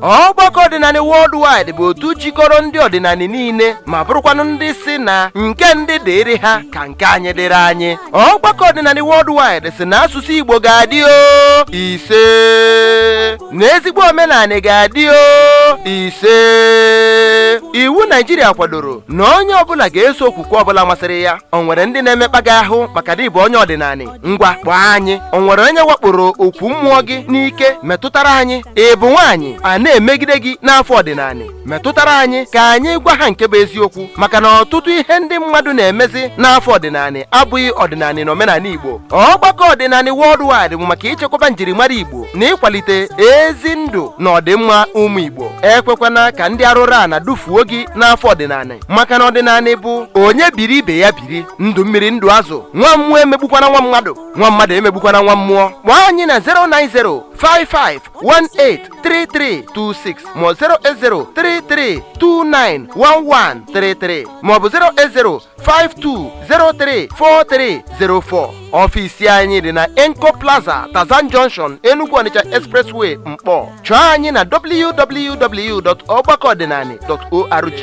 ọgbakọ ọdịnanị worldwide bụ otu jikọrọ ndị ọdịnanị niile ma bụrụkwanụ ndị sị na nke ndị dịrị ha ka nke anyị dịrị anyị ọgbakọ ọdịnanị worldwide sị na asụsụ igbo ga-adị o isee na ezigbo omenanị ga-adị o isee iwu naijiria kwadoro na onye ọbụla ga-eso okwukwe ọbụla masịrị ya o nwere ndị na-emekpa gị ahụ maka na ị bụ onye ọdịnanị ngwa kpọọ anyị o nwere onye wakporo okwu mmụọ gị n'ike metụtara anyị ị bụ nwaanyị a na-emegide gị n'afa ọdịnanị metụtara anyị ka anyị gwa ha nke bụ eziokwu maka na ọtụtụ ihe ndị mmadụ na-emezi n'afa ọdịnanị abụghị ọdịnanị na omenanị igbo ọgbakọ ọdịnanị worldwide bụ maka ichekwaba njirimara igbo na ịkwalite ezi ndụ na ọdịmma ụmụ igbo ekwekwana ka ndị arụrụana dufuo gị n'afa ọdịnanị maka na ọdịnanị bụ onye biri ibe ya bi biri ndụ mmiri ndụ azụ nwa mmụọ emegbukwana nwa mmadụ nwa mmadụ emegbukwana nwa mmụọ kpọọ anyị na 09055183326 ma 08033291133 maọbụ 08052034304 ọfisi anyị dị na enco plaza tarzan junction enugu onitsha expressway nkpọ chọọ anyị na www.ọgbakọọdịnanị.org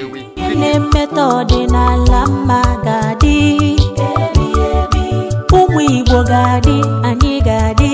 na-emetọ ọdịnala mma ga-adị ụmụ igbo ga-adị anyị ga-adị